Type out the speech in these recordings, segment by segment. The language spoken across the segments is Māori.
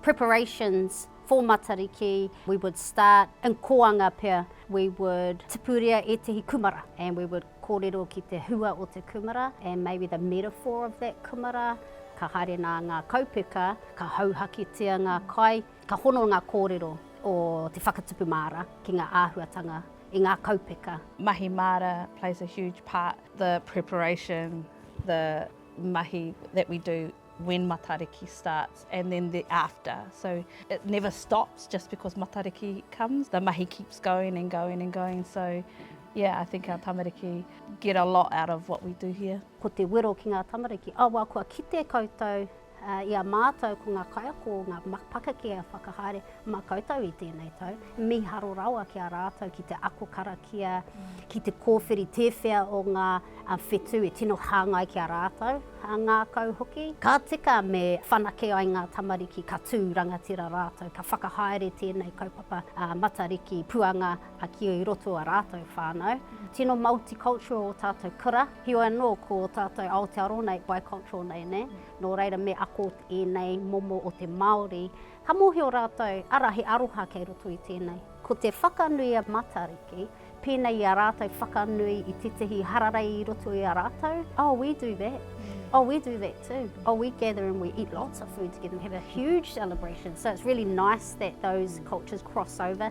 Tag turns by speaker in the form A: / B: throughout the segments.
A: Preparations for Matariki, we would start in koanga pea, we would tipuria ētehi kumara and we would kōrero ki te hua o te kumara and maybe the metaphor of that kumara, ka haere nā ngā kaupeka, ka hauhaketia ngā kai, ka hono ngā kōrero o te whakatupu māra ki ngā āhuatanga i ngā kaupeka. Mahi māra
B: plays a huge part The preparation, the mahi that we do when Matariki starts and then the after. So it never stops just because Matariki comes. The mahi keeps going and going and going. So yeah, I think our tamariki get a lot out of what we do here. Ko te wero ki ngā
A: tamariki, awa kua kite koutou Ā, i a mātou ko ngā kaiako o ngā pakeke e whakahaere mā koutou i tēnei tau, mīharo rawa ki a rātou ki te ako karakia, ki te kōwhiri tēwhea o ngā whetū e tino hāngai ki a rātou, ā, ngākau hoki. Ka tika me whanake ai ngā tamariki ka tū rangatira rātou, ka whakahaere tēnei kaupapa Matariki puanga a ki i roto a rātou whānau. Tino multicultural o tātou kura, heoi anō ko tātou Aotearoa nei bicultural nei ne, nō reira me ako ēnei momo o te Māori, ka mōhio rātou ara he aroha kei roto i tēnei. Ko te whakanui a Matariki, pēnei i a rātou whakanui i tētahi hararei i roto i a rātou, oh we do that, oh we do that too, oh we gather and we eat lots of food together, we have a huge celebration, so it's really nice that those cultures cross over.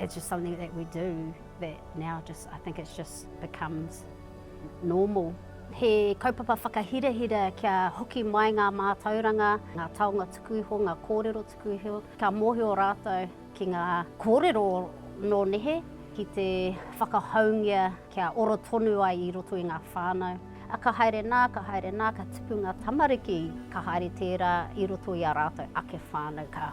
A: It's just something that we do that now just I think it's just becomes normal. He kaupapa whakahirahira kia hoki mai ngā mātauranga, ngā taonga tuku iho, ngā kōrero tuku iho, ka mōhio rātou ki ngā kōrero nō nehe, ki te whakahoungia kia oro tonu ai i roto i ngā whānau. A ka haere nā, ka haere nā, ka tipu ngā tamariki, ka haere tērā i roto i a rātou ake whānau, ka